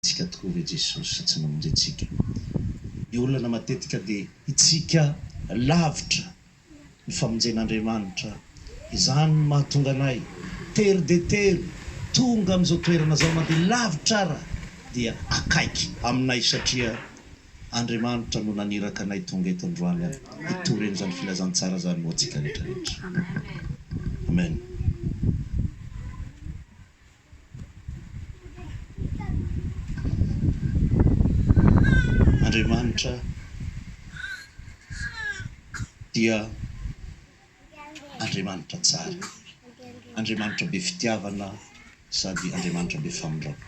Tsika tokoa ve Jesosy tsy mamonjy antsika? Ny olana matetika dia itsika lavitra ny famonjen'Andriamanitra. Izany no mahatonga anay tery dia tery tonga amin'izao toerana izao na dia lavitra ara dia akaiky aminay satria Andriamanitra no naniraka anay tonga eto androany ary hitory an'izany filazantsara izany ho antsika rehetra rehetra. Amen. Andriamanitra dia Andriamanitra tsara, Andriamanitra be fitiavana sady Andriamanitra be famindram-po.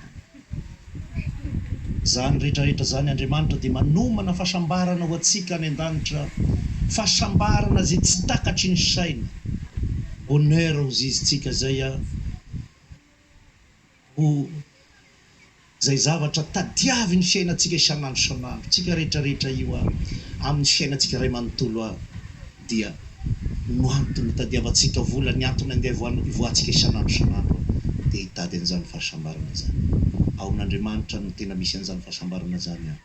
Izany rehetrarehetra izany Andriamanitra dia manomana fahasambarana ho antsika any an-danitra, fahasambarana izay tsy takatry ny saina, bonheur ho zizitsika izay a, ho izay zavatra tadiavin'ny fiainantsika isan'andro isan'andro, tsika rehetrarehetra io a, amin'ny fiainantsika iray manontolo a. dia no antony itadiavantsika vola, ny antony andeha ivoahantsika isan'andro isan'andro dia hitady an'izany fahasambarana izany. Ao amin'Andriamanitra no tena misy an'izany fahasambarana izany an!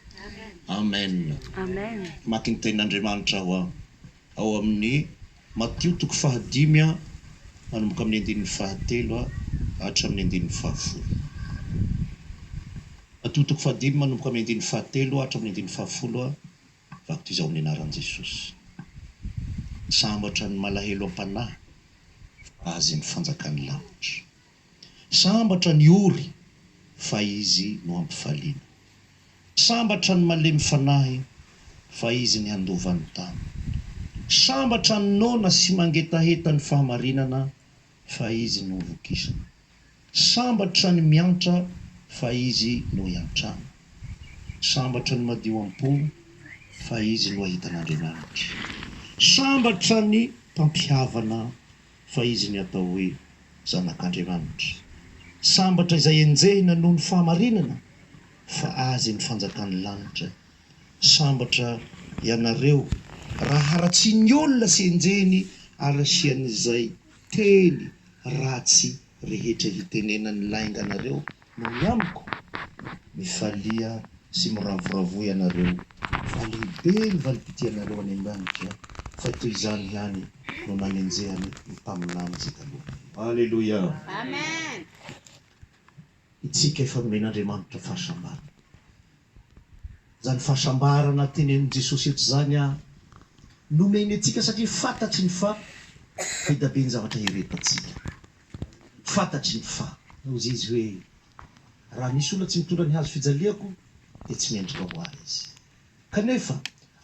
Amen! Mamaky ny Tenin'Andriamanitra aho an! Ao amin'ny Matio toko fahadimy an, manomboka amin'ny andininy fahatelo hatramin'ny andininy fahafolo. Matio toko fahadimy manomboka amin'ny andininy fahatelo hatramin'ny andininy fahafolo. Batiza ao amin'ny anaran'i Jesosy. Sambatra ny malahelo am-panahy, fa azy ny fanjakan'ny lanitra. Sambatra ny ory, fa izy no hampifaliana. Sambatra ny malemy fanahy, fa izy ny handova ny tany. Sambatra ny noana sy mangetaheta ny fahamarinana, fa izy no vokisana. Sambatra ny miantra fa izy no iantrana. Sambatra ny madio am-po fa izy no ahita an'Andriamanitra. Sambatra ny mpampihavana fa izy ny atao hoe zanak'Andriamanitra. Sambatra izay enjehina noho ny fahamarinana fa azy ny fanjakan'ny lanitra Sambatra ianareo raha haratsian'ny olona sy enjehiny ary asian'izay teny ratsy rehetra hitenenan'ny lainga anareo no ny amiko. Mifalia sy miravoravoa ianareo fa lehibe ny valim-pitianareo any an-danitra fa toy izany ihany no nanenjehany ny mpaminany izay talohanareo. Aleloia. Amen. Isika efa nomen'Andriamanitra fahasambarana. Izany fahasambarana tenenin'i Jesosy eto izany nomeny antsika satria fantatry ny fa be da be ny zavatra hirehetantsika. Fantatry ny fa. Hoy Izy hoe, Raha misy olona tsy mitondra ny hazo fijaliako dia tsy mendrika ho ahy izy. Kanefa,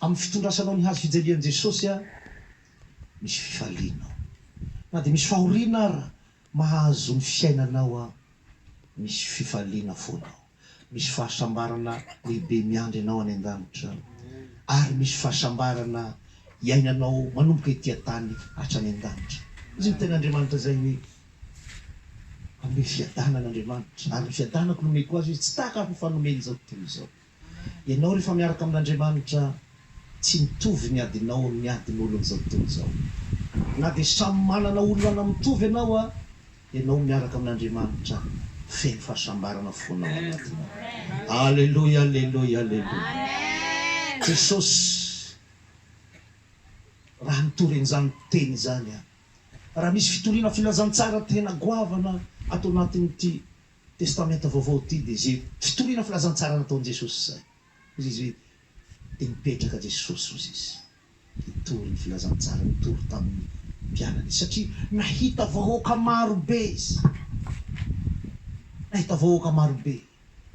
amin'ny fitondrasanao ny hazo fijalian'i Jesosy, misy fifaliana ao. Na dia misy fahoriana ara, Mahazo ny fiainanao aho, misy fifaliana foana ao, misy fahasambarana lehibe miandry anao any an-danitra, ary misy fahasambarana iainanao manomboka ety an-tany hatrany an-danitra. Hoy ny Tenin'Andriamanitra izay hoe, Hanome fiadanana Andriamanitra, ary ny fiadanako nomeko azy izy, tsy tahaka ny fanomeny izao tontolo izao. Ianao rehefa miaraka amin'Andriamanitra tsy mitovy ny adinao amin'ny adin'olon'izao tontolo izao. Na dia samy manana olana mitovy ianao a, ianao miaraka amin'Andriamanitra feno fahasambarana fona ao anatinao. Aleloia aleloia aleloia. Jesosy raha nitory an'izany teny izany aho. Raha misy fitoriana filazantsara tena goavana ato anatin'ity Testamenta Vaovao ity dia izay fitoriana filazantsara nataon'i Jesosy izay. Hoy izy hoe, Dia nipetraka Jesosy, hoy izy, hitory ny filazantsara nitory tamin'ny mpianany izy, satria nahita vahoaka maro be izy. Nahita vahoaka maro be.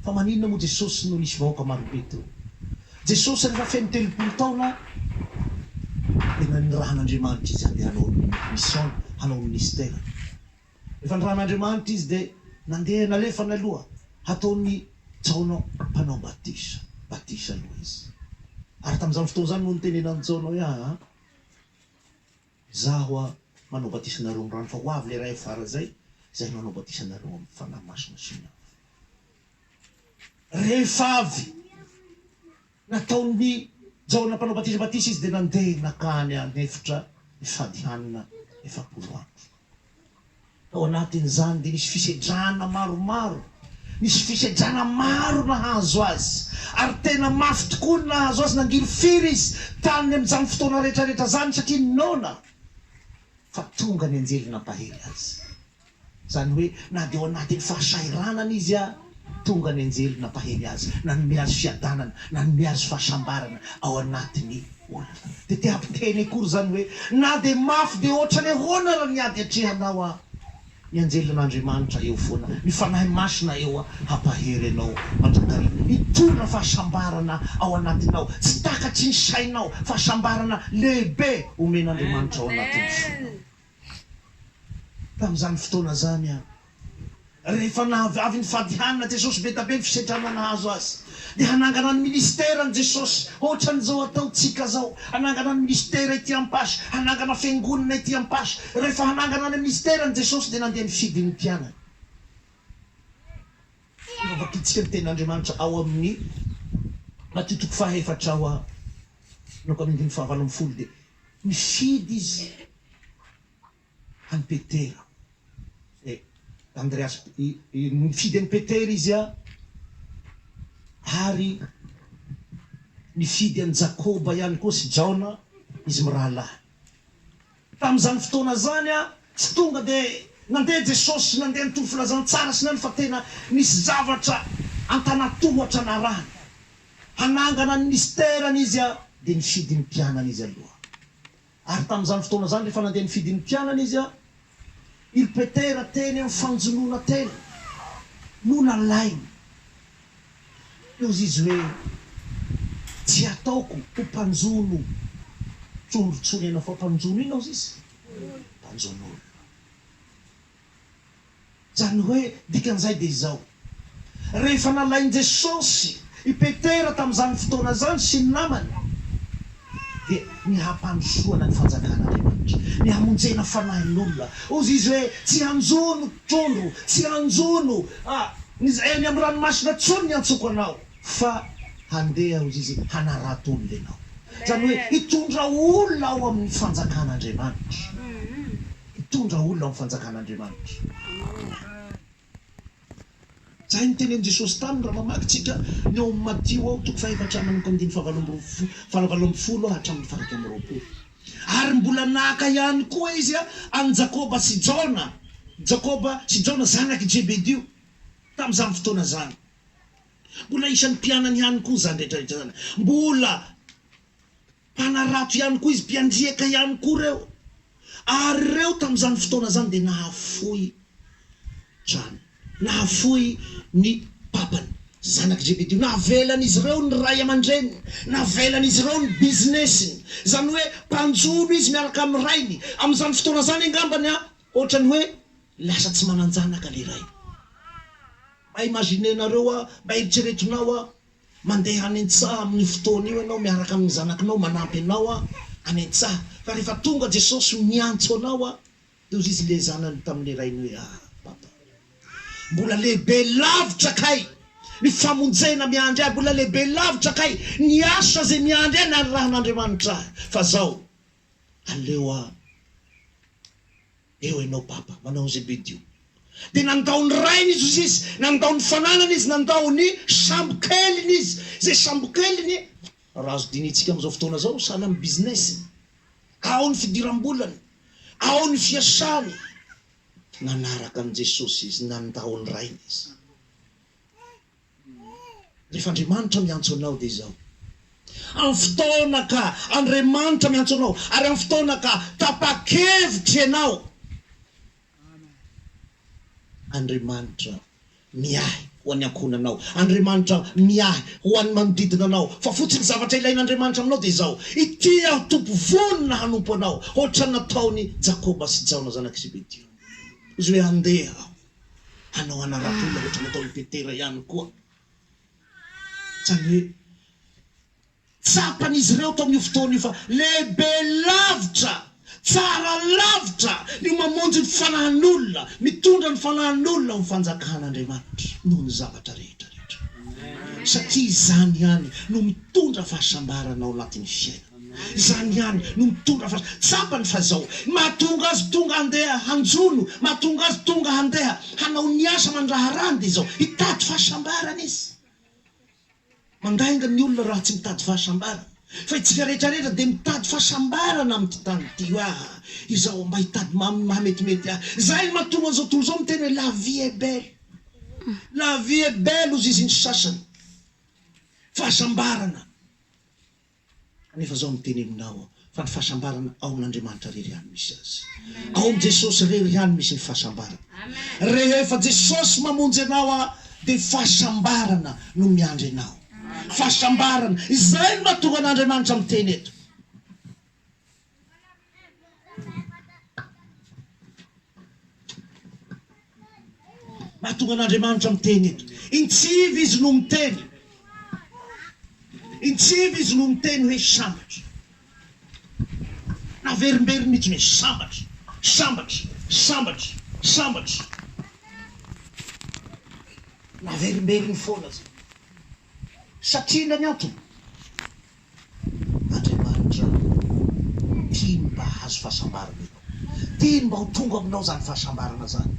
Fa maninona moa Jesosy no nisy vahoaka maro be teo? Jesosy rehefa feno telopolo taona dia nanirahan'Andriamanitra izy handeha hanao ny mission, hanao ny minisiterany. Rehefa nirahana Andriamanitra izy dia nandeha nalefa naloha hataon'i Jaona mpanao batisa batisa aloha izy. Ary tamin'izany fotoana izany no nitenenan'i Jaona hoe, Aa, izaho hoa manao batisa anareo amin'ny rano, fa ho avy ilay iray afara izay, izay hanao batisa anareo amin'ny Fanahy Masina sy ny afo. Rehefa avy. Nataon'i Jaona Mpanao Batisa batisa izy dia nandeha nankany an'efitra ifadihanana efapolo andro. Tao anatin'izany dia nisy fisedrana maromaro. Nisy fisedrana maro nahazo azy, ary tena mafy tokoa ny nahazo azy. Nangirifiry izy tany amin'izany fotoana rehetrarehetra izany satria noana fa tonga ny anjely nampahery azy. Izany hoe na dia ao anatin'ny fahasahiranana izy ary, tonga ny anjely nampahery azy, nanome azy fiadanana, nanome azy fahasambarana ao anatin'ny olana. Dia te hampiteny akory izany hoe na dia mafy be ohatran'ny ahoana ary ny ady atrehanao ary, ny anjelin'Andriamanitra eo foana, ny Fanahy Masina eo hampahery anao mandrakariva. Hitorina fahasambarana ao anatinao, tsy takatry ny sainao, fahasambarana lehibe omen'Andriamanitra ao anatin'ny fonao. Tamin'izany fotoana izany, rehefa avy nifadihanana Jesosy, be dia be ny fisedrana nahazo Azy. Dia hanangana ny minisiterany Jesosy, hoatran'izao ataontsika izao. Hanangana ny minisitera ety Ampaso, hanangana fiangonana ety Ampaso. Rehefa hanangana ny minisiterany Jesosy, dia nandeha nifidy ny mpianany. Efa vakintsika ny Tenin'Andriamanitra ao amin'ny Matio toko faha efatra ao amin'ny andininy faha valo ambin'ny folo, dia. Nifidy izy an'i Petera. E, Andreasy, i, i, nifidy an'i Petera izy an, ary nifidy an'i Jakoba ihany koa sy Jaona, izy mirahalahy. Tamin'izany fotoana izany an, tsy tonga dia nandeha Jesosy, nandeha nitory filazantsara sy ny any fa tena nisy zavatra an-tanatohatra narahany. hanangana ny misterany izy dia nifidy ny mpianany izy aloha. Ary tamin'izany fotoana izany rehefa nandeha nifidy ny mpianany izy, il Petera teny amin'ny fanjonoana teny no nalainy. Teo izy izy hoe, Tsy hataoko ho mpanjono trondro intsony ianao, fa mpanjono inona ozy izy? Mpanjono olona. Izany hoe dikan'izay dia izao, rehefa nalain'i Jesosy i Petera tamin'izany fotoana izany sy ny namany dia ny hampandrosoana ny fanjakan'Andriamanitra, ny hamonjena fanahin'olona, hozy izy hoe tsy hanjono trondro, tsy hanjono eny amin'ny ranomasina intsony ny antsoko anao fa handeha hozy izy hanarato olona ianao, izany hoe hitondra olona ao amin'ny fanjakan'Andriamanitra. Hitondra olona amin'ny fanjakan'Andriamanitra. Izay no tenenin'i Jesosy taminy raha mamaky tsika ny ao amin'ny Matio ao toko fahefatra manomboka amin'ny dimy fahavalo amby roa fahavalo ambin'ny folo hatramin'ny fahairaika amby roapolo. Ary mbola naka ihany koa izy an'i Jakoba sy Jaona, Jakoba sy Jaona zanak'i Jebedio, tamin'izany fotoana izany. Mbola isan'ny mpianany ihany koa izany rehetra rehetra izany. Mbola. Mpanarato ihany koa izy, mpiandriaka ihany koa ireo. Ary ireo tamin'izany fotoana izany dia nahafoy trano, nahafoy ny papany, zanak'i Zebedio. Navelan'izy ireo ny ray aman-dreniny, navelan'izy ireo ny business-ny. Izany hoe mpanjono izy miaraka amin'ny rainy. Amin'izany fotoana izany angambany ohatran'ny hoe lasa tsy manan-janaka ilay ray. Mba imaginenareo aho, mba eritreretinao aho, Mandeha any an-tsaha amin'io fotoana io ianao miaraka amin'ny zanakinao manampy anao any an-tsaha. Fa rehefa tonga Jesosy miantso anao, dia hoy Izy le zanany tamin'ny rainy hoe, Ah! Papa! Mbola lehibe lavitra kay ny famonjena miandry ahy, mbola lehibe lavitra kay ny asa izay miandry ahy nanirahan'Andriamanitra ahy, fa zao, aleo aho. Eo ianao Papa, manao an'izay be dio. Dia nandao ny rainy izy, hoy izy, nandao ny fananany izy, nandao ny sambokeliny izy. Izay sambokeliny, raha azo dinihintsika amin'izao fotoana izao, sahala amin'ny business-ny. Ao ny fidiram-bolany, ao ny fiasany. Nanaraka an'i Jesosy izy, nandao ny rainy izy. Rehefa Andriamanitra miantso anao dia izao. Amin'ny fotoana ka Andriamanitra miantso anao ary amin'ny fotoana ka tapa-kevitra ianao, Andriamanitra miahy ho an'ny ankohonanao, Andriamanitra miahy ho an'ny manodidina anao, fa fotsiny zavatra ilain'Andriamanitra aminao dia izao, Ity aho Tompo vonona hanompo anao, hoatran'ny nataon'i Jakoba sy Jaona zanak'i Zebedeo. Hoy izy hoe, Andeha aho. hanao anaram-peo ilay ohatra nataon'i Petera ihany koa. Izany hoe, tsapan'izy ireo tamin'io fotoana io fa lehibe lavitra, tsara lavitra ny mamonjy ny fanahin'olona, mitondra ny fanahin'olona amin'ny Fanjakan'Andriamanitra noho ny zavatra rehetra rehetra, satria izany ihany no mitondra fahasambarana ao anatin'ny fiainana. Izany ihany no mitondra fa tsapany fa izao ny mahatonga azy tonga handeha hanjono, mahatonga azy tonga handeha hanao ny asa aman-draharahany dia izao, hitady fahasambarana izy. Mandainga ny olona raha tsy mitady fahasambarana. Fa itsika rehetra rehetra dia mitady fahasambarana amin'ity tany ity. Hoe aah, izaho mba hitady maha mahametimety ahy. Izay no mahatonga an'izao tontolo izao miteny hoe la vie est belle. La vie est belle hozy izy ny sasany. Fahasambarana. Kanefa izao no teny aminao aho, fa ny fahasambarana ao amin'Andriamanitra irery ihany misy azy. Ao amin'i Jesosy irery ihany misy ny fahasambarana. Rehefa Jesosy mamonjy anao aho dia fahasambarana no miandry anao. Fahasambarana. Izay no mahatonga an'Andriamanitra miteny eto. Mahatonga an'Andriamanitra miteny eto. Intsivy Izy no miteny. Intsivy Izy no miteny hoe sambatra. Naverimberiny mihitsiny hoe sambatra, sambatra, sambatra, sambatra. Naverimberiny foana izany. Satria inona ny antony? Andriamanitra tiany mba hahazo fahasambarana ianao. Tiany mba ho tonga aminao izany fahasambarana izany.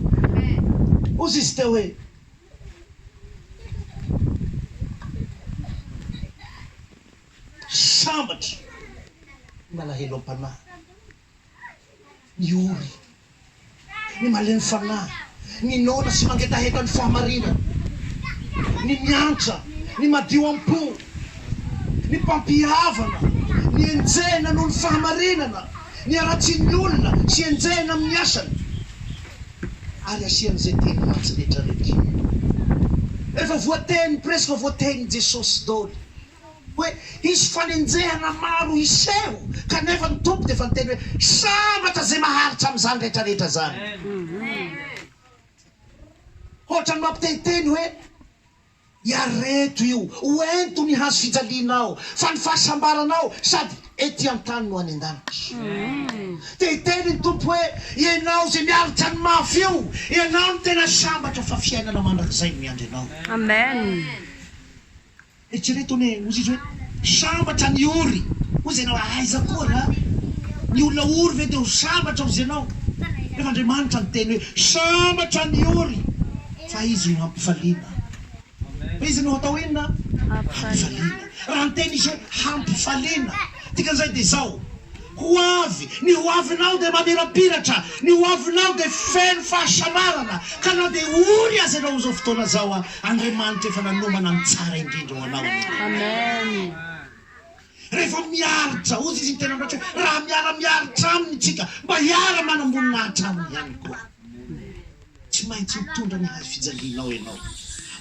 Hozy Izy teo hoe. Sambatra, ry malahelo am-panahy, Ny ory, ny malemy fanahy, ny noana sy mangetaheta ny fahamarinana, ny miantra, ny madio am-po, ny mpampihavana, ny enjehina noho ny fahamarinana, ny haratsian'ny olona sy enjehina amin'ny asany, ary asian'izay teny ratsy rehetra rekiny. Rehefa voateny presque voatenin'i Jesosy doly Hoe hisy fanenjehana maro hiseho, kanefa ny Tompo dia efa niteny hoe, Sambatra izay maharitra amin'izany rehetrarehetra izany. Hoatran'ny mampitehiteny hoe, Iareto io, ho ento ny hazo fijalianao, fa ny fahasambaranao sady ety an-tany no any an-danitra. Dia hiteny ny Tompo hoe, Ianao izay miaritra ny mafy io, ianao no tena sambatra, fa fiainana mandrakizay no miandry anao. Eritrereto anie hozy izy hoe sambatra ny ory hozy ianao aiza koa nga ny olona ory ve dia ho sambatra hozy ianao rehefa Andriamanitra niteny hoe sambatra ny ory fa izy no hampifaliana fa izy no hatao inona? hampifaliana raha niteny izy hoe hampifaliana dikan'izay dia izao ho avy ny ho avinao dia mamirapiratra ny ho avinao dia feno fahasambarana ka na dia ory aza ianao amin'izao fotoana izao Andriamanitra efa nanomana ny tsara indrindra ho anao anie. Rehefa miaro Jaozy Izy ny tena miratsy hoe raha miara miaritra Aminy isika mba hiara manamboninahitra Aminy ihany koa. Tsy maintsy hitondra ny hazo fijalianao ianao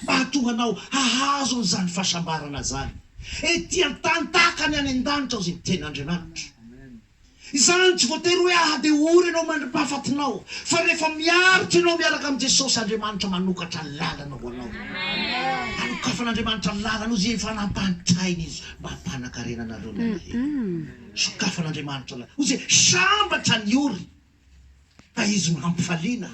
mba hahatonga anao hahazo an'izany fahasambarana izany ety an-tany tahaka ny any an-danitra ao izay ny tenin'Andriamanitra. Izany tsy voatery hoe ahatehory ianao mandri-pahafatinao, fa rehefa miaritra ianao miaraka amin'i Jesosy, Andriamanitra manokatra lalana ho anao. Anokafan'Andriamanitra lalana ho izay efa nampantainy Izy mba hampanankarena anareo ny alahelo. Sokafan'Andriamanitra lalana ho izay sambatra ny ory. Fa izy no hampifaliana.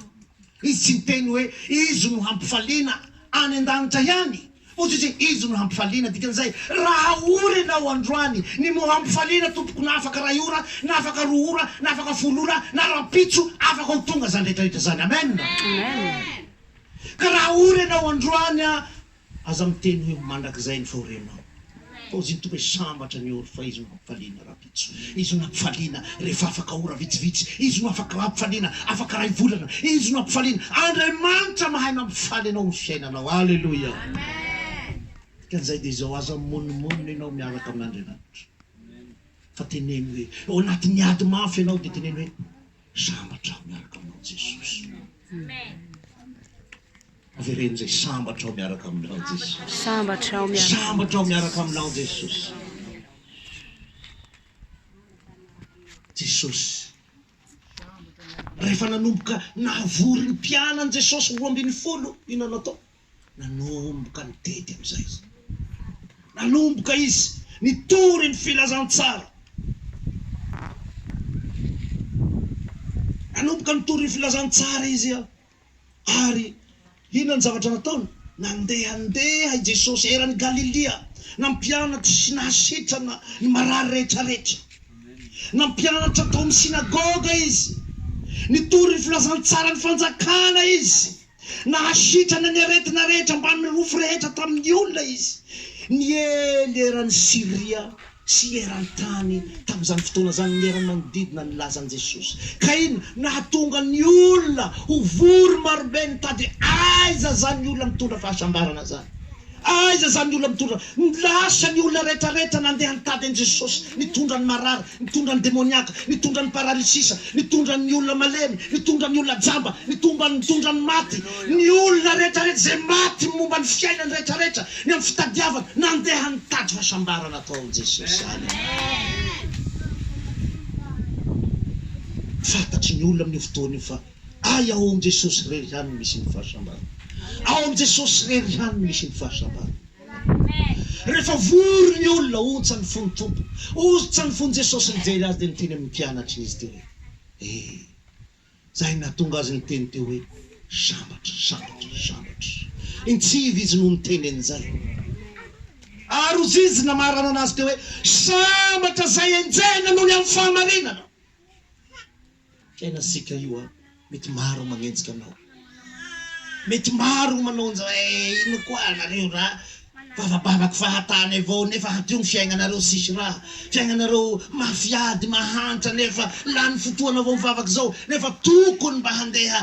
Izy tsy niteny hoe izy no hampifaliana any an-danitra ihany, fa ohatry ny hoe izy no hampifaliana. Dikan'izay, raha ora ianao androany, ny mot hampifaliana, tompoko, na afaka iray ora, na afaka roa ora, na afaka folo ora, na rahampitso, afaka ho tonga izany rehetra rehetra izany. Amen! Ka raha ora ianao androany, Aza miteny hoe mandrakizay ny fahorianao fa ozy ny Tompo sambatra ny ory fa Izy no hampifaliana rahampitso, Izy no hampifaliana rehefa afaka ora vitsivitsy, Izy no afaka hampifaliana afaka iray volana, Izy no hampifaliana, Andriamanitra mahay mampifaly anao amin'ny fiainanao. Aleloia! Dikan'izay dia izao, aza mimonomonona ianao miaraka amin'Andriamanitra fa teneno hoe ao anatin'ny ady mafy ianao dia teneno hoe sambatra aho miaraka aminao Jesosy. Avereno izay sambatra ao miaraka amin'ny lan'i Jesosy. Sambatra ao miaraka. Sambatra ao miaraka amin'ny lan'i Jesosy. Jesosy. Rehefa nanomboka navory ny mpianany Jesosy roa ambin'ny folo inona natao? Nanomboka nitety amin'izay izy. Nanomboka izy nitory ny filazantsara. Nanomboka nitory ny filazantsara izy. Ary inona ny zavatra nataony? Nandehandeha i Jesosy eran'i Galilia, nampianatra sy nahasitrana ny marary rehetrarehetra. Nampianatra tao amin'ny synagoga izy. Nitory ny filazantsaran'ny Fanjakana izy. Nahasitrana ny aretina rehetra mbamin'ny rofy rehetra tamin'ny olona izy. Niely eran'i Syria. sy eran-tany tamin'izany fotoana izany ny era-manodidina ny lazan'i Jesosy. Ka inona? Nahatonga ny olona ho vory marobe nitady aiza izany olona mitondra fahasambarana izany. Aiza izany olona mitondra? Lasa ny olona rehetrarehetra nandeha nitady an'i Jesosy, nitondra ny marary, nitondra ny demoniaka, nitondra ny paralysisa, nitondra ny olona malemy, nitondra ny olona jamba, nitomba nitondra ny maty, ny olona rehetrarehetra izay maty momba ny fiainany rehetrarehetra. Ny amin'ny fitadiavana nandeha nitady fahasambarana tao amin'i Jesosy izany. Fantatry ny olona amin'io fotoana io fa ay ao amin'i Jesosy irery ihany no misy ny fahasambarana. Ao amin'i Jesosy irery ihany no misy ny fahasambarana. Rehefa vory ny olona, ontsa ny fon'ny Tompo. Ontsa ny fon'i Jesosy nijery azy dia niteny amin'ny mpianatriny izy teo hoe, Ee. Izay nahatonga azy niteny teo hoe, Sambatra, sambatra, sambatra. Nitsivo izy no niteny an'izay. Ary ho zizy namarana an'azy teo hoe, Sambatra izay enjehina noho ny amin'ny fahamarinana. Fiainantsika io an, mety maro manenjika anao. Mety maro ny manao an'izao eh, inona koa nareo ra vavabavako fahatany avao nefa hadio ny fiaignanareo tsisy raha, fiaignanareo mafy ady mahantra nefa lany fotoana avao mivavaka izao nefa tokony mba handeha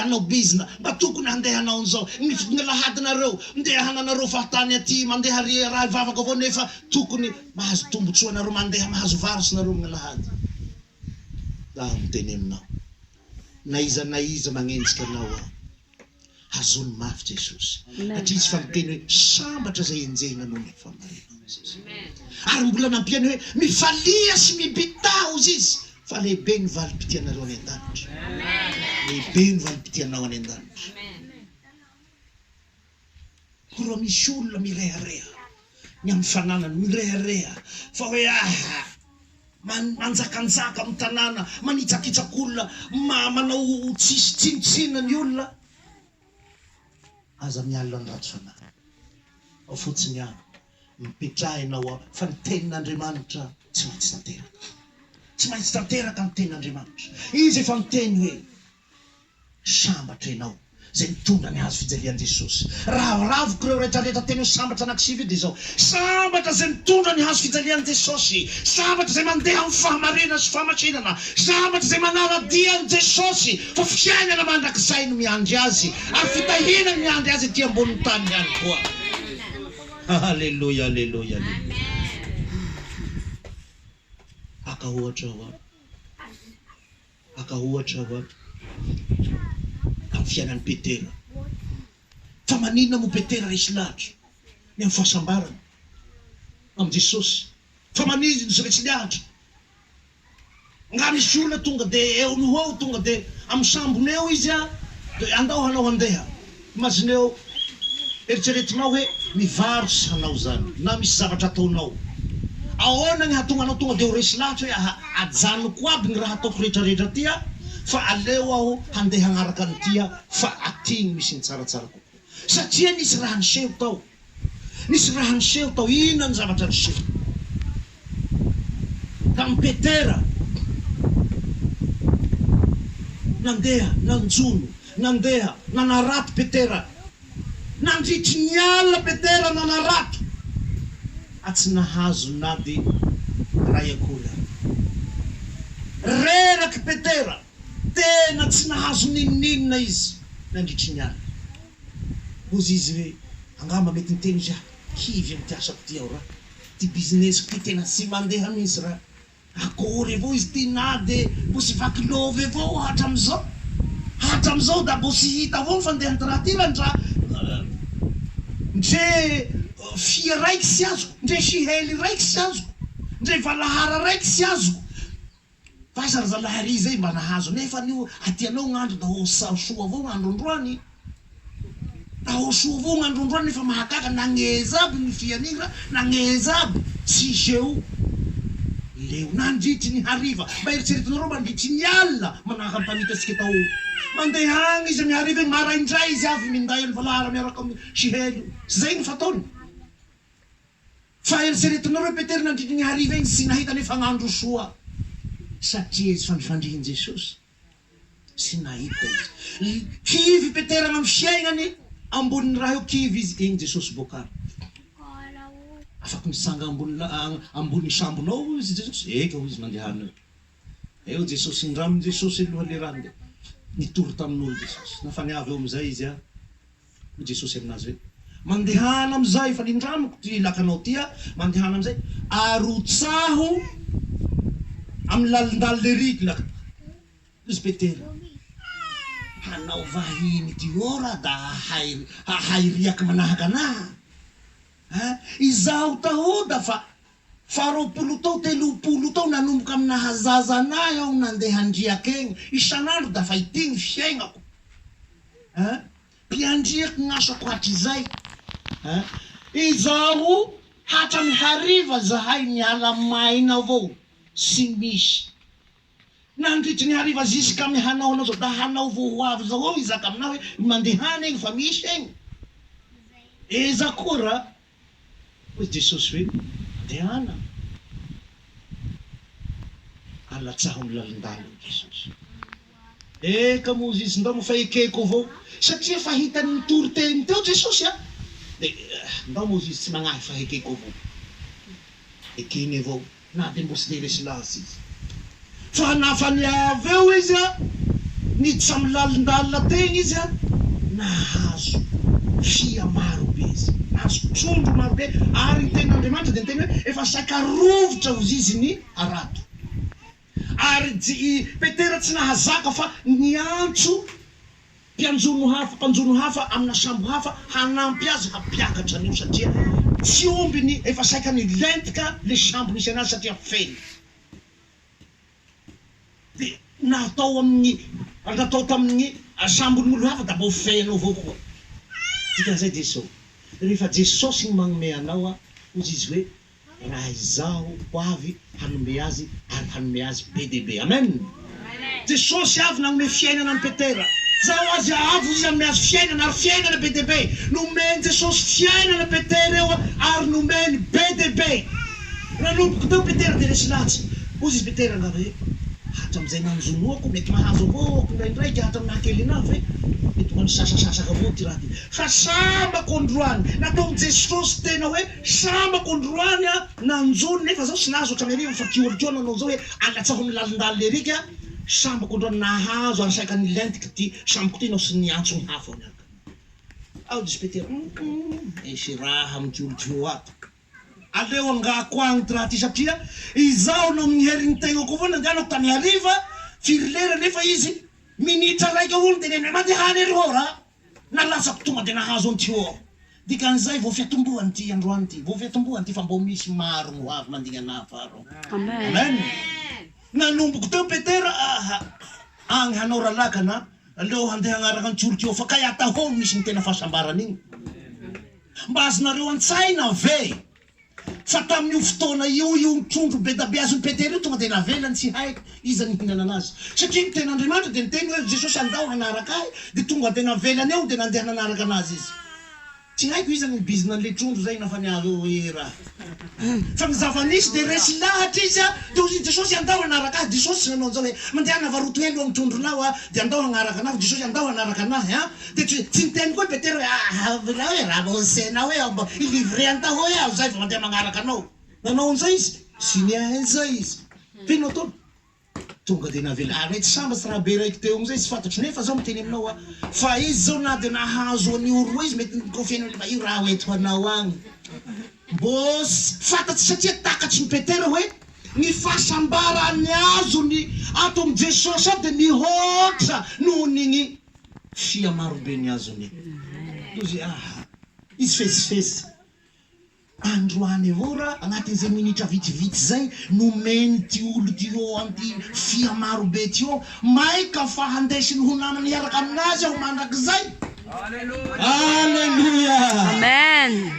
hanao bizna, mba tokony handeha hanao an'izao ny ny lahadinareo ndeha hananareo fahatany aty mandeha ry raha hivavaka avao nefa tokony mahazo tombotsoa nareo mandeha mahazo vary sy nareo magnalahady, zaho miteny aminao. na iza na iza magnenjika anao aho hazony mafy Jesosy satria izy fa miteny hoe sambatra zay enjehina noho ny famarinana ary mbola nampiany hoe mifalia sy mibità hozy izy fa lehibe ny valim-pitianareo any an-danitra lehibe ny valim-pitianao any an-danitra Koa misy olona mirehareha ny amin'ny fananany, mirehareha fa hoe aha, manjakanjaka amin'ny tanàna, manitsakitsaka olona, manao tsisy tsinontsinona ny olona, aza mialona ny ratsy fanahy, ao fotsiny ihany, mipetrahina ao aminy, fa ny tenin'Andriamanitra tsy maintsy tanteraka, tsy maintsy tanteraka ny tenin'Andriamanitra, Izy efa niteny hoe. Sambatra ianao izay mitondra ny hazo fijalian'i Jesosy. Raviraviko ireo rehetra rehetra teny ho sambatra anakisivy io dia izao, Sambatra izay mitondra ny hazo fijalian'i Jesosy! Sambatra izay mandeha amin'ny fahamarinana sy fahamasinana! Sambatra izay manara-dia an'i Jesosy fa fiainana mandrakizay no miandry azy ary fitahiana no miandry azy ety ambonin'ny tany ihany koa! Aleloia aleloia aleloia! Mpaka ohatra ho'a. Mpaka ohatra aho ato amin'ny fiainan'i Petera. Fa maninona moa Petera resy lahatra ny amin'ny fahasambarana amin'i Jesosy? Fa maninona izy resy lahatra? Angaha misy olona tonga dia eo no ho eo, tonga dia amin'ny sambony eo izy dia andao hanao handeha. Imagineo, eritreretinao hoe mivarotra anao zany na misy zavatra ataonao, ahoana ny hahatonga anao tonga dia ho resy lahatra hoe aha, ajanoko aby ny raha ataoko rehetra rehetra aty a, fa aleo aho handeha hagnaraka an'ity a, fa aty no misy ny tsaratsara kokoa. Satria nisy raha niseho tao. Nisy raha niseho tao. Inona ny zavatra niseho tamin'i Petera? Nandeha nanjono, nandeha nanarato Petera. Nandritry ny alina Petera nanarato ary tsy nahazo na dia iray akory aza. Reraky Petera, tena tsy nahazo n'inon'inona izy nandritry ny alina. Ozy izy hoe angamba mety niteny izy ah kivy amty asako ty aho ra ty business-ko ty tena tsy mandeha mintsy ra akory avao izy ty na de mbo tsy vaky love avao ah hatramizao hatramizao da mbo tsy hita avao ny fandehany ty raha ty ra ndra ndre fia raiky tsy azoko ndre sihely raiky tsy azoko ndre valahara raiky tsy azoko F'aza ry zalahy ary izay mba nahazo nefa anio aty anao gn'andro da ho soa avao gn'andro androany da ho soa avao gn'andro androany nefa mahagaga nagneza aby ny fianigra nagneza aby tsy zeo leo nandritry ny hariva mba eritreretinareo mandritry ny alina manahaka ny mpamitatsika tao mandeha agny izy amy hariva igny maraindray izy avy minday an'i valahara miaraka amy sihelo zay ny fataony Fa eritreretinareo i Petera nandritry ny hariva iny sy nahita ny fagnandrosoa satria etsy fandrifandrihin'i Jesosy sy nahita Izy. Kivy i Petera amin' ny fiaignany ambony ny raha eo, kivy izy igny Jesosy bokany. Afaky mitsanga ambony la ambony ny sambonao hoy izy Jesosy. Eka hoy izy mandehana eo. Eo Jesosy ndramin' Jesosy aloha le raha nde nitory tamin'olo Jesosy. Nafaniavo eo amizay izy a. Hoy Jesosy aminazy hoe, Mandehana amin'izay, fa nindramiko ty lakanao ty aho, mandehana amin'izay, arotsaho amin'ny lalindalin' le riglaka. Hoy izy Petera, Hanao vahiny ity eo raha da hahay hahay riaky manahaka anaha, a! Izaho tahoda fa. Faharoapolo tao telopolo tao nanomboka am naha zaza anahy aho nande handriaka egny isanandro dafa ity ny fiaignako a mpiandriak gnasako hatrizay a izaho hatram hariva zahay miala maina avao tsy misy nandritry ny hariva ziskam hanao anao zao da hanao vao ho avy zao eo izaka aminah hoe mandehana egny fa misy egny eza koa ra Hoy Jesosy hoe, Andehana alatsaho ny lalindaliny Jesosy. Eka moa izy ndao moa fa ekeko avao satria efa hitany nitory teny teo Jesosy a! dia ndao moa izy tsy nagnahy fa ekeko avao. Ekeny avao Na dia mbola tsy dia resy laza izy fa nafania avy eo izy a, niditra amin'ny lalindalina teny izy a, nahazo fia maro be izy, nahazo trondro maro be ary ny tenin'Andriamanitra dia niteny hoe, efa saika rovitra ho zizy ny harato. Ary i Petera tsy nahazaka fa niantso Mpianjono hafa, mpanjono hafa amina sambo hafa hanampy azy hampiakatra an'io satria tsy omby ny efa saika nilentika le sambo nisy anazy satria feno de natao amin'ny natao tamin'ny sambon'olo hafa da mbô feno avao koa dikan'izay Jesosy rehefa Jesosy no magnome anao a ozy izy hoe raha izaho ho avy hanome azy ary hanome azy be dia be. Amen! Jesosy avy nanome fiainana an'i Petera. Zao azy avo izy hanome azy fiainana ary fiainana be dia be. Nomen'i Jesosy fiainana Petera eo ary nomeny be dia be. Nanomboka teo Petera dia resy latsa. Hoy izy Petera angamba hoe, hatramin'izay nanjonoako, mety mahazo avao aho kindraindraika hatramin'ny naha-kelena ahy ve? Mety mba nisasasasaka avao ity raha ity. Fa sambako androany, nataon'i Jesosy tena hoe. Sambako androany a nanjo nefa zao tsy nahazo otrany hariva fa kioli ko nanao zao hoe alatsaho ny lalindalin eric a sambako androany nahazo ary saika nilentika ty sambako ty nao sy niantso ny hafa niaraka ao dispetera hum hum misy raha am kioli ko ato aleo angaha ko agny ty raha ty satria izaho no amin herin tegna ko avao nandehanako tany hariva firy lera nefa izy minitra raika olo de neneh maty hany aloha raha. Nalatsako tonga dia nahazo an'ity ô! Dikan'izay vao fiatombohan' ity androany ity, vao fiatombohan' ity fa mbo misy maro ny ho avy mandingana ahy faharoa. Amen! Nanomboko teo Petera aha! Agny hanao ralakana, aleo handeha hagnaraka an'i Tiorkia ao fa kay atahono misy ny tena fahasambarana igny. Mba azonareo an-tsaina ve? Fa tamin'io fotoana io, io trondro bedabeazon'i Petera io tonga dia navelany, tsy hay iza nihinana an'azy. Satria ny Tenin'Andriamanitra dia niteny hoe, Jesosy andao hanaraka Ahy, dia tonga dia navelany eo, dia nandeha nanaraka an'Azy izy. Tsy haiko iza no bizina an'ilay trondro izay na fa ny ahy hoe ra. Fa ny zava-nisy dia resy lahatra izy, dia hoy i Jesosy, Andao hanaraka Ahy. Jesosy tsy nanao an'izao hoe, Mandehana varoto helo amin'ny trondronao, dia andao hanaraka anareo. Jesosy, Andao hanaraka an'Ahy. Dia tsy tsy niteny koa i Petera hoe, Aa avelao e, raha vao enseigner hoe ao mba hilivrer an taho hoe aho izay vao mandeha magnaraka anao. Nanao an'izay izy. Tsy niahy an'izay izy. Ve no ataony? Tonga dia navela. Ary mety sambatry raha be raiki-teo amin'izay, tsy fantatro. Nefa izao miteny aminao aho fa izy izao na dia nahazo an'io roa izy mety ni-confie-ny hoe mba io raha ho ento anao agny. Mbô fantatsy satria takatry ny Petera hoe ny fahasambarany azony ato amin'i Jesosy ao dia mihoatra noho ny ny. Fia marobe ny azony. Tozy ah. Izy fesifesy. Androany ora, agnatin'izay minitra vitsivitsy zay, nomeny ty olo ty ô an'ty fia marobe ty ô, maika fa handesiny ho namany hiaraka aminazy aho mandrakizay. Aleloia! Amen!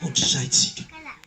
Ohatr'izay tsika.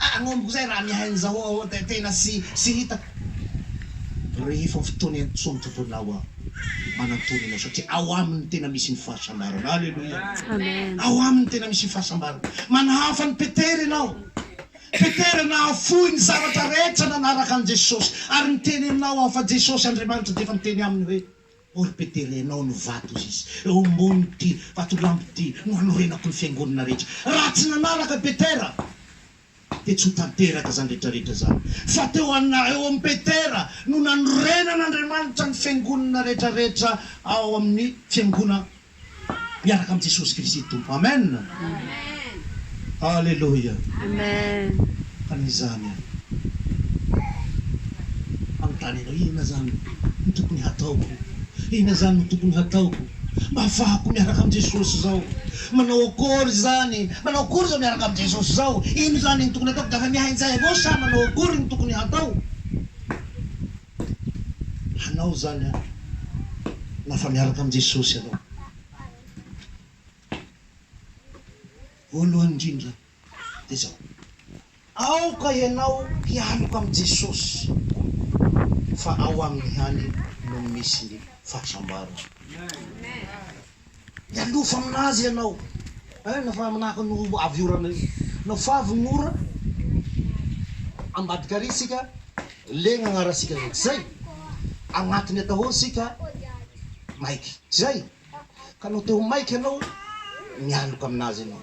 Agnamiko izay raha mihaino zao aho ao dia tena tsy tsy hitako rehefa fotoana intsony Tompo anao aho manantony anao satria ao aminy no tena misy ny fahasambarana Aleloia ao aminy no tena misy ny fahasambarana Manahafa an'i Petera ianao Petera nahafoy ny zavatra rehetra nanaraka an'i Jesosy ary niteny aminao aho fa Jesosy Andriamanitra dia efa niteny aminy hoe Orpeterenao ny vato Ziz eo ambonin'ity vatolampy ity no hanorenako ny fiangonana rehetra. Raha tsy nanaraka Petera dia tsy ho tanteraka izany rehetrarehetra izany. Fa teo ana eo amin'i Petera no nanorenan'Andriamanitra ny fiangonana rehetrarehetra ao amin'ny fiangona miaraka amin'i Jesosy Kristy Tompo. Amen! Aleloia! Fa na izany ary, manontany anao, inona izany no tokony hataoko? Inona izany no tokony hataoko mba hahafahako miaraka amin'i Jesosy izao? Manao akory izany? Manao akory izao miaraka amin'i Jesosy izao? Inona izany no tokony hataoko? Dia afa-miahinjay avao sa manao akory no tokony hatao? hanao izany an! na fa miaraka amin'i Jesosy ianao. Voalohany indrindra dia izao, aoka ianao hialoka amin'i Jesosy fa ao aminy ihany no misy ny fahasambarana. Mialofa aminazy ianao eh na fa manahaka ny ho avy orana io na fa avy ny ora ambadika ary isika legna agnarasika zay tsy zay agnatiny atahoro isika maiky tsy zay ka no te ho maiky ianao mialoka aminazy ianao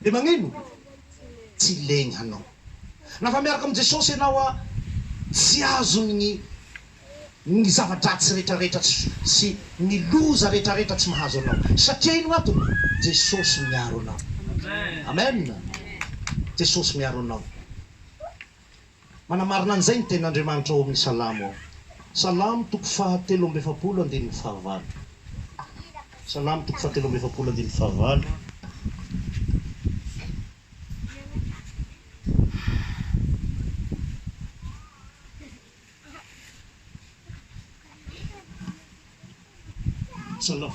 Dia magnino? Tsy legny hanao. Na fa miaraka amin'i Jesosy ianao a, tsy azony ny ny zava-dratsy rehetrarehetra tsy sy ny loza rehetrarehetra tsy mahazo anao. Satria ino antony? Jesosy miaro anao. Amen! Jesosy miaro anao. Manamarina an'izay ny tenin'Andriamanitra ao amin'ny Salamo ao. Salamo toko fahatelo amby efapolo andininy fahavalo. Salamo toko fahatelo amby efapolo andininy fahavalo. Salamo.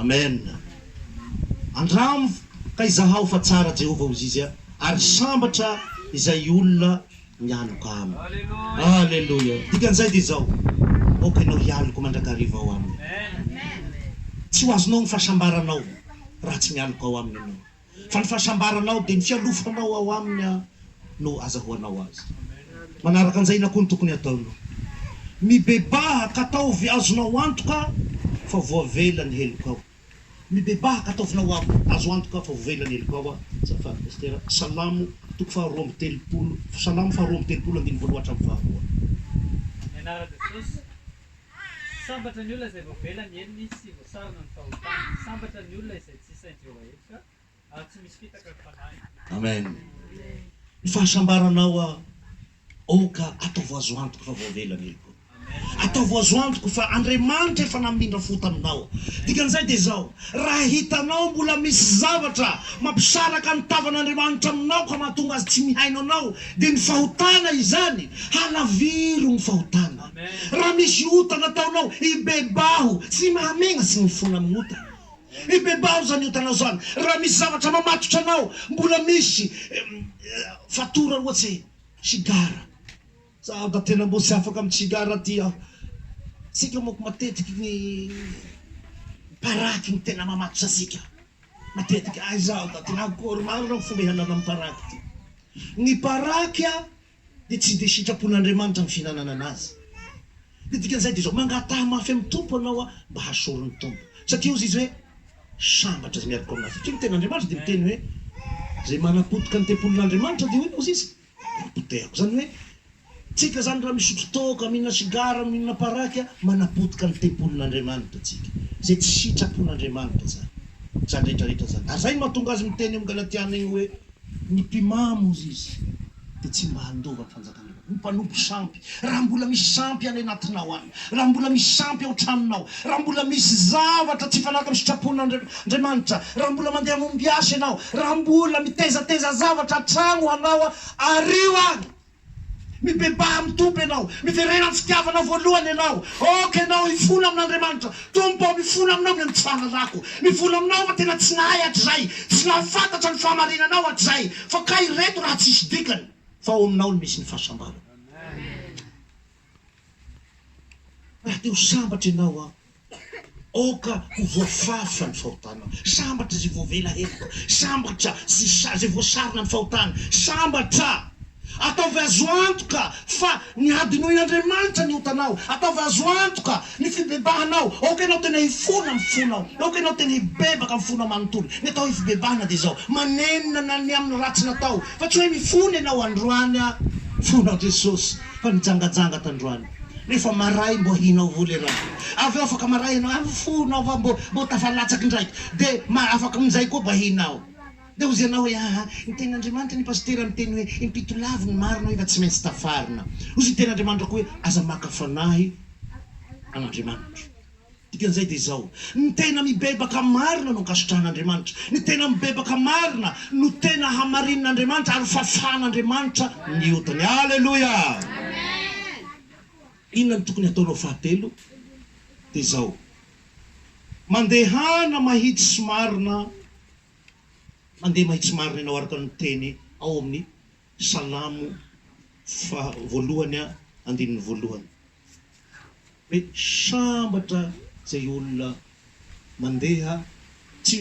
Amen Andramo ka izahao fa tsara Jehovah hozizy ary sambatra izay olona mianoka aminy. Aleloia Dikan'izay dia izao, Aoka ianao hialoka mandrakariva ao aminy. Tsy ho azonao ny fahasambaranao raha tsy mialoka ao aminy ianao. fa ny fahasambaranao dia ny fialofanao ao Aminy no azahoanao Azy. Manaraka an'izay, inona koa no tokony hataonao? Mibebaha ka ataovy azonao antoka fa voavela ny helokao. Mibebaha ka ataovinao azo antoka fa voavela ny helokao azafady Pastera, Salamo toko faha roa amby telopolo, Salamo faha roa amby telopolo andininy voaloha hatramin'ny faharoa. Sambatra ny olona izay voavela ny helony sy voasarona ny fahotany. Sambatra ny olona izay tsy sain'i Jehovah heloka, ary tsy misy fitaka ny fanahiny. Amen! Ny fahasambaranao aoka ataovo azo antoka fa voavela ny heloko. Ataovo azo antoka fa Andriamanitra efa namindra fo taminao. Dikan'izay dia izao, raha hitanao mbola misy zavatra mampisaraka ny tavan'Andriamanitra aminao ka mahatonga azy tsy mihaino anao, dia ny fahotana izany. Halaviro ny fahotana. Raha misy ota nataonao, ibebaho, tsy mahamegna sy mifona amin'ny ota. Ibebaho izany otanao izany. Raha misy zavatra mamatotra anao, mbola misy fatora ohatsy hoe sigara. Zaho da tena mbo tsy afaka amin'ny tsigara ty aho. Tsika manko matetiky ny paraky no tena mamatotra antsika matetiky. Ay zaho da tena akory marina ny fomba ialana amin'ny paraky ty. Ny paraky a. dia tsy dia sitrapon'Andriamanitra ny fihinanana anazy. Ny dikan'izay dia izao, mangataha mafy amin'ny Tompo ianao aho mba hasoron'ny Tompo. Satria hozy izy hoe, Sambatra izay miaroko amin'ahy. Satria ny tenin'Andriamanitra dia miteny hoe, Izay manapotika ny tempolin'Andriamanitra, dia hoy ny hozy izy, dia hopotehako. Izany hoe, tsika izany raha misotro toaka, mihinana sigara, mihinana paraky, manapotika ny tempolin'Andriamanitra tsika. Izay tsy sitrapon'Andriamanitra izany. Izany rehetra rehetra izany. Ary izay no mahatonga azy miteny amin'ny Galatiana iny hoe, Ny mpimamo, hoy izy, dia tsy mba handova ny fanjakan'Andriamanitra. Ny mpanompo sampy, raha mbola misy sampy any anatinao any, raha mbola misy sampy ao tranonao, raha mbola misy zavatra tsy hifanaraka amin'ny sitrapon'Andriamanitra, raha mbola mandeha mombiasa ianao, raha mbola mitaizataiza zavatra hatrany ho anao, ario any! Mibebaha amin'ny Tompo ianao. Miverena amin'ny fitiavanao voalohany ianao. Aoka ianao hifola amin'Andriamanitra. Tompo ô, mifola Aminao ny amin'ny tsy fahalalako. Mivola Aminao fa tena tsy nahay hatrizay, tsy nahafantatra ny fahamarinanao hatrizay, fa kay ireto raha tsisy dikany, fa ao Aminao no misy ny fahasambarana. Raha te ho sambatra ianao an! Aoka ho voafafa ny fahotanao. Sambatra izay voavela heloka. Sambatra izay voasarona ny fahotany. Sambatra! Ataovy azo antoka fa nihadinoin'Andriamanitra ny otanao. Ataovy azo antoka ny fibebahanao. Aoka ianao tena hifona amin'ny fonao. Aoka ianao tena hibebaka amin'ny fonao manontolo. Ny atao hoe fibebahana dia izao, manenina ny amin'ny ratsy natao. Fa tsy hoe mifona ianao androany an! Fona Jesosy. Fa nijangajanga tandroany nefa maray mbo hinao vola iaraha avy eo afaka maray ianao avy fonao fa mbo mbo tafalatsaky indraiky de ma afaka aminjay koa mba hinao de ozy ianao hoe aa ny teny andriamanitra ny pasitera miteny hoe impitolavo ny marina nefa tsy maintsy tafarina ozy ny teny andriamanitra koa hoe aza maka fanahy an'andriamanitra Dikan'izay dia izao, ny tena mibebaka marina no ankasitrahan'Andriamanitra, ny tena mibebaka marina no tena hamarinin'Andriamanitra ary fafan'Andriamanitra ny otany. Aleloia! Inona no tokony hataonao fahatelo? Dia izao, mandehana mahitsy marina, mandeha mahitsy marina ianao araka ny teny ao amin'ny. Salamo faha voalohany a andininy voalohany hoe sambatra izay olona mandeha tsy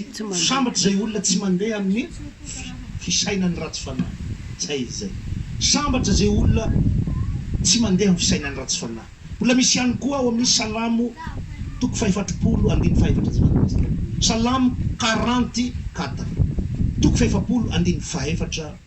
sambatra izay olona tsy mandeha amin'ny fisainan'ny ratsy fanahy zay izy zay sambatra izay olona tsy mandeha amin'ny fisainan'ny ratsy fanahy mbola misy ihany koa ao amin'ny salamo toko fahefatrpolo andininy fahefatra zay mandinitsika salamo quarante quatre toko fahefapolo andininy fahefatra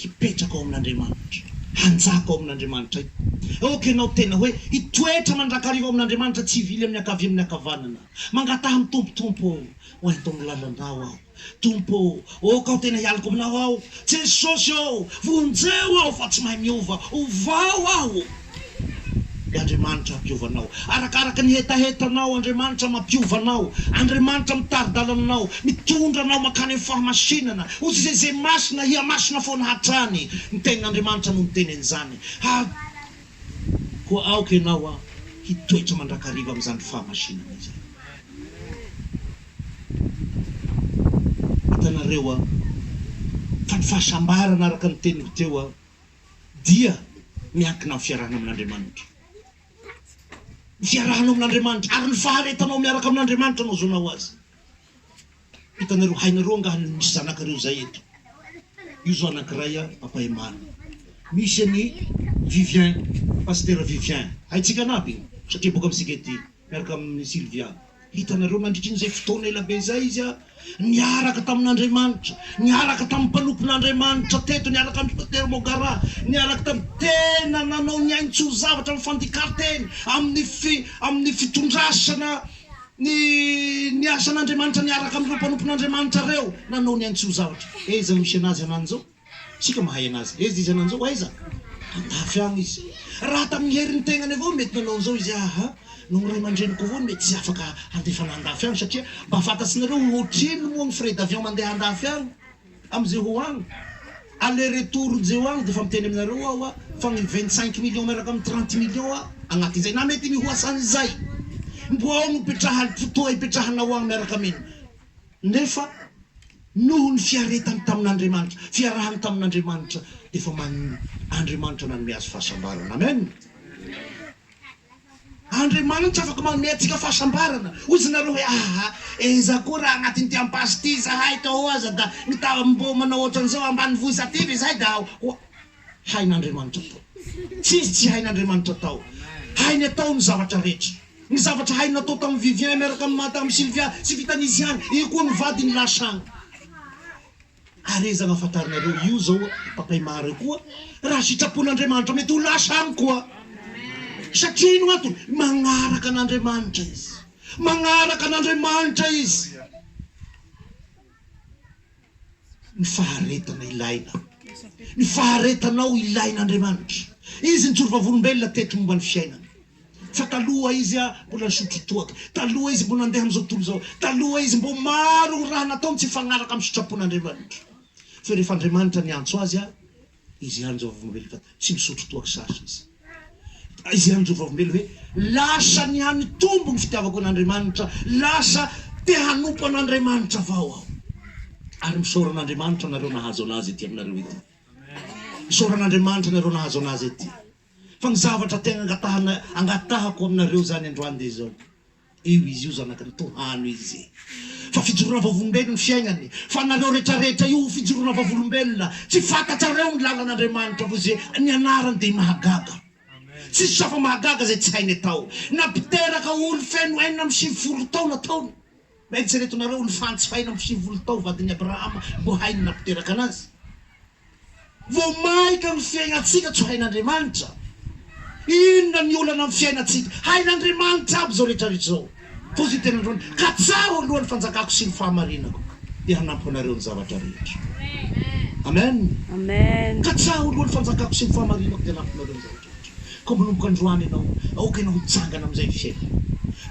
Hipetraka ao amin'Andriamanitra. Hanjaka ao amin'Andriamanitra aho. Aoka ianao tena hoe hitoetra mandrakariva ao amin'Andriamanitra tsy hivily amin'ny ankavia amin'ny ankavanana. Mangataha ny Tompo, Tompo ô, ho ento amin'ny lalanao aho. Tompo ô, aoka aho tena hialoko aminao aho. Jesosy ô, vonjeo aho fa tsy mahay miova. Ovao aho. Dia Andriamanitra hampiova anao. Arakaraka ny hetahetanao, Andriamanitra mampiova anao. Andriamanitra mitari-dalana anao, mitondra anao mankany amin'ny fahamasinana. Ho zeze masina, hihamasina foana hatrany. Ny Tenin'Andriamanitra no niteny an'izany. Ary koa aoka ianao hitoetra mandrakariva amin'izany fahamasinana izany. Hitanareo fa ny fahasambarana araka ny teniko teo, dia miankina amin'ny fiarahana amin'Andriamanitra. Ny fiarahanao amin'Andriamanitra ary ny faharetanao miaraka amin'Andriamanitra no ahazoanao azy. Hitanareo, hainareo angaha ny misy zanakareo izay eto? Io izao anankiray an, Papa Emany. Misy an'i Vivien, Pasitera Vivien. Haintsika an'aby io, satria boka amintsika ety. Miaraka amin'i Sylvia. Hitanareo, nandritra an'izay fotoana ela be izay izy niaraka tamin'Andriamanitra, niaraka tamin'ny mpanompon'Andriamanitra teto, niaraka amin'i Pasitera Mogara, niaraka tamin'ny tena nanao ny ainy tsy ho zavatra amin'ny fandikanteny, amin'ny fi, amin'ny fitondrasana ny, ny asan'Andriamanitra niaraka amin'ireo mpanompon'Andriamanitra ireo, nanao ny ainy tsy ho zavatra. Aiza no misy an'azy ananjao? Isika mahay anazy. Ezy izy ananjao aiza? Andafy agny izy. Raha tamin'ny herin'ny tegnany avao mety nanao an'izao izy aaha. Noho ny ray aman-dreniko avao no mety tsy afaka handefa anah andafy agny satria mba fantatsinareo ho ohatrino moa ny frais d'avion mandeha andafy agny amin'izay ho agny. Aller retour izay ho agny dia efa miteny aminareo aho fa ny vingt cinq millions miaraka amin'ny trente millions agnatin'izay na mety mihoasan'izay. Mbo ao no ipetraha fotoa ipetrahanao agny miaraka amin. Nefa noho ny fiaretany tamin'Andriamanitra, fiarahany tamin'Andriamanitra, efa man Andriamanitra nanome azy fahasambarana. Amen. Andriamanitra afaka manome antsika fahasambarana. Hoy izy nareo hoe, Aha, enza koa raha anatin'ity ampaso ity izahay, ka ho'aza da mitavamboa manao ohatran'izao ambanivohitra aty ve izahay da ho hain'Andriamanitra tao. Tsy izy tsy hain'Andriamanitra tao. Hainy atao ny zavatra rehetra. Ny zavatra hainy natao tamin'i Vivien miaraka amin'i Madame Sylvia tsy vitan'izy ihany, io koa ny vadiny lasa any. Ary aiza no ahafantaranareo io izao i Papay Mary io koa? Raha sitrapon'Andriamanitra mety ho lasa any koa. Satria ino antony? Magnaraka an'Andriamanitra izy. Magnaraka an'Andriamanitra izy. Ny faharetana ilaina. Ny faharetanao ilain' Andriamanitra. Izy nijoro vavolombelona teto momba ny fiainana. Fa taloha izy mbola nisotro toaka. Taloha izy mbola nandeha amin'izao tontolo izao. Taloha izy mbo maro raha nataony tsy hifagnaraka amin'ny sitrapon' Andriamanitra. Fe rehefa Andriamanitra niantso azy. Izy ihany izao vavolombelona fa tsy misotro toaka sarotra izy. Izy ihany izao vavolombelona hoe lasa nihanitombo ny fitiavako an'Andriamanitra, lasa te hanompo an'Andriamanitra avao aho. Ary misaora an'Andriamanitra anareo nahazo an'Azy ety aminareo ety. Misaora an'Andriamanitra anareo nahazo an'Azy ety. Fa ny zavatra te hangatahana, angatahako aminareo izany androany dia izao. Io izy io zanaky ny tohano izy fa fijoroana vavolombelon fiaignany fa nareo retraretra io fijoroana vavolombelona tsy fantatrareo ny lalan Andriamanitra fa ze nianarany de mahagaga tsisy safa mahagaga zay tsy hainy atao napiteraka olo feno enina amby sivy folo tao nataony eritsereto nareo olo fantsy faina amby sivy folo tao vadiny Abrahama mbo hainy napiteraka anazy Vao mainka ny fiainantsika tsy hain'Andriamanitra. Inona ny olana amin'ny fiainantsika? Hain'Andriamanitra aby izao rehetra rehetra izao. Toa izay tena androany. Ka tsaro aloha ny fanjakako sy ny fahamarinako dia hanampy anareo ny zavatra rehetra. Amen. Ka tsaro aloha ny fanjakako sy ny fahamarinako dia hanampy anareo ny zavatra rehetra. Koa manomboka androany ianao, aoka ianao hitsangana amin'izay fiainana.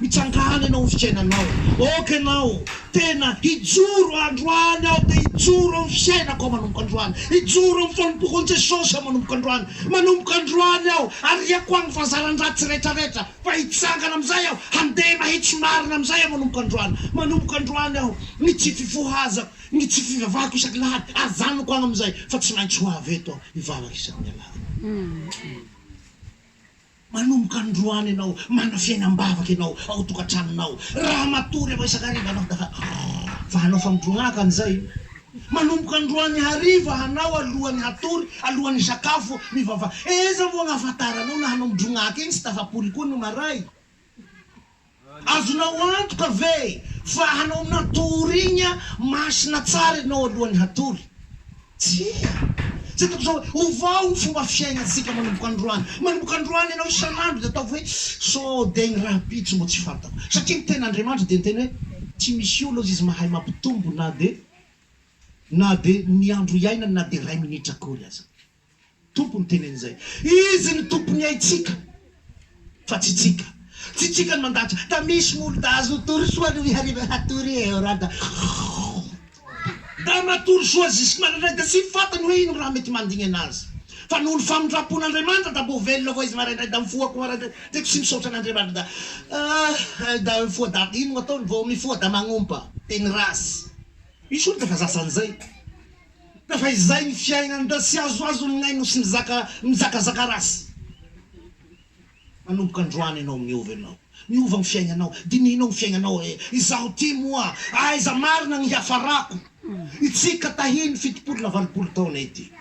Mitsangàna ianao amin'ny fiainanao. Aoka ianao tena hijoro androany aho te hijoro amin'ny fiainako aho manomboka androany. Hijoro amin'ny fanompoako an'i Jesosy aho manomboka androany. Manomboka androany aho, ariako agny fahazaran-dratsy rehetrarehetra, fa hitsangana amin'izay aho, handeha mahitsy marina amin'izay aho manomboka androany. Manomboka androany aho, ny tsy fifohazako, Ny tsy fivavahako isaky ny alahady, ajanoko any amin'izay, fa tsy maintsy ho avy eto aho hivavaka isaky ny alahady. Manomboka androany ianao manana fiainam-bavaka ianao ao an-tokantranonao. Raha matory ianao isan-kariva hanao da fa fa hanao famotron'aka an'izay. Manomboka androany hariva hanao alohan'ny hatory, alohan'ny hisakafo, mivavaha. Eza moa ny ahafantaranao na hanao modron'aka iny tsy tafapoly koa ny maray? Azonao antoka ve fa hanao natouriagna masina tsara ianao alohan'ny hatory? Tsia. Izay ataoko izao hoe, Ovao ny fomba fiaignantsika manomboka androany. Manomboka androany ianao isan'andro dia ataovy hoe, Sao dia ny rahampitso mbo tsy fantako. Satria ny Tenin'Andriamanitra dia niteny hoe, Tsy misy olona hozy izy mahay mampitombo na dia na dia ny andro hiainany na dia iray minitra akory aza. Tompo no teny an'izay. Izy no tompon'ny aintsika fa tsy tsika. Tsy tsika no mandahatra. Da misy molo da azo tory soa aloha hariva hatory eo raha da Da matory soa zisky maraindray da tsy fantany hoe ino raha mety mandingana azy. Fa noho ny famindrampon'Andriamanitra da mbo velona koa izy maraindray da mifoha koa maraindray. Tiako tsy misaotra an'Andriamanitra da Ah da mifoha da ino no ataony vao mifoha da magnompa. Teny ratsy. Misy olona efa zazan'izay. Tafa izay ny fiainany da tsy azoazo ny ainy no tsy nizaka nizakazaka ratsy. Manomboka androany enao miova enao. Miova ny fiaignanao. Dinihinao ny fiaignanao hoe, izaho ty moa aiza marina ny hiafarako? Itsika tahin'ny fitopolo na valopolo taona ity.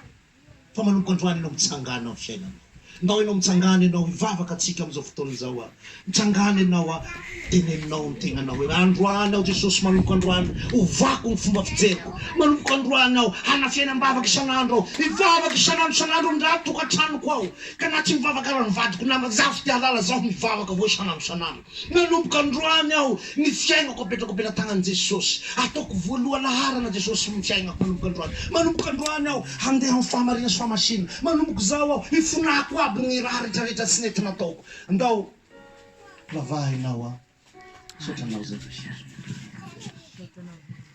Fa manomboka androany ianao mitsangana am fiainana nao ianao mitsangana ianao hivavaka tsika amzao fotoana izao a mitsangana ianao a teneninao am tegnanao hoe androany aho jesosy manomboka androany ovako ny fomba fijeriko manomboka androany aho hana fiainambavaka isanandro aho hivavaka isanandro isanandro amndratoka tranoko ao ka na tsy mivavaka aza ny vadiko namako zaho tsy te halala zaho mivavaka avao isanandro isanandro. Nanomboka androany aho ny fiainako apetrako am-pelatanan'i Jesosy. Ataoko voaloha laharana Jesosy ny fiainako manomboka androany. Manomboka androany aho handeha amin'ny fahamarina sy fahamasinana. Manomboka izao aho hifonako aby ny raha retraretra tsy nety nataoko. Ndao lavahina aho an. Misaotra anao Jesosy.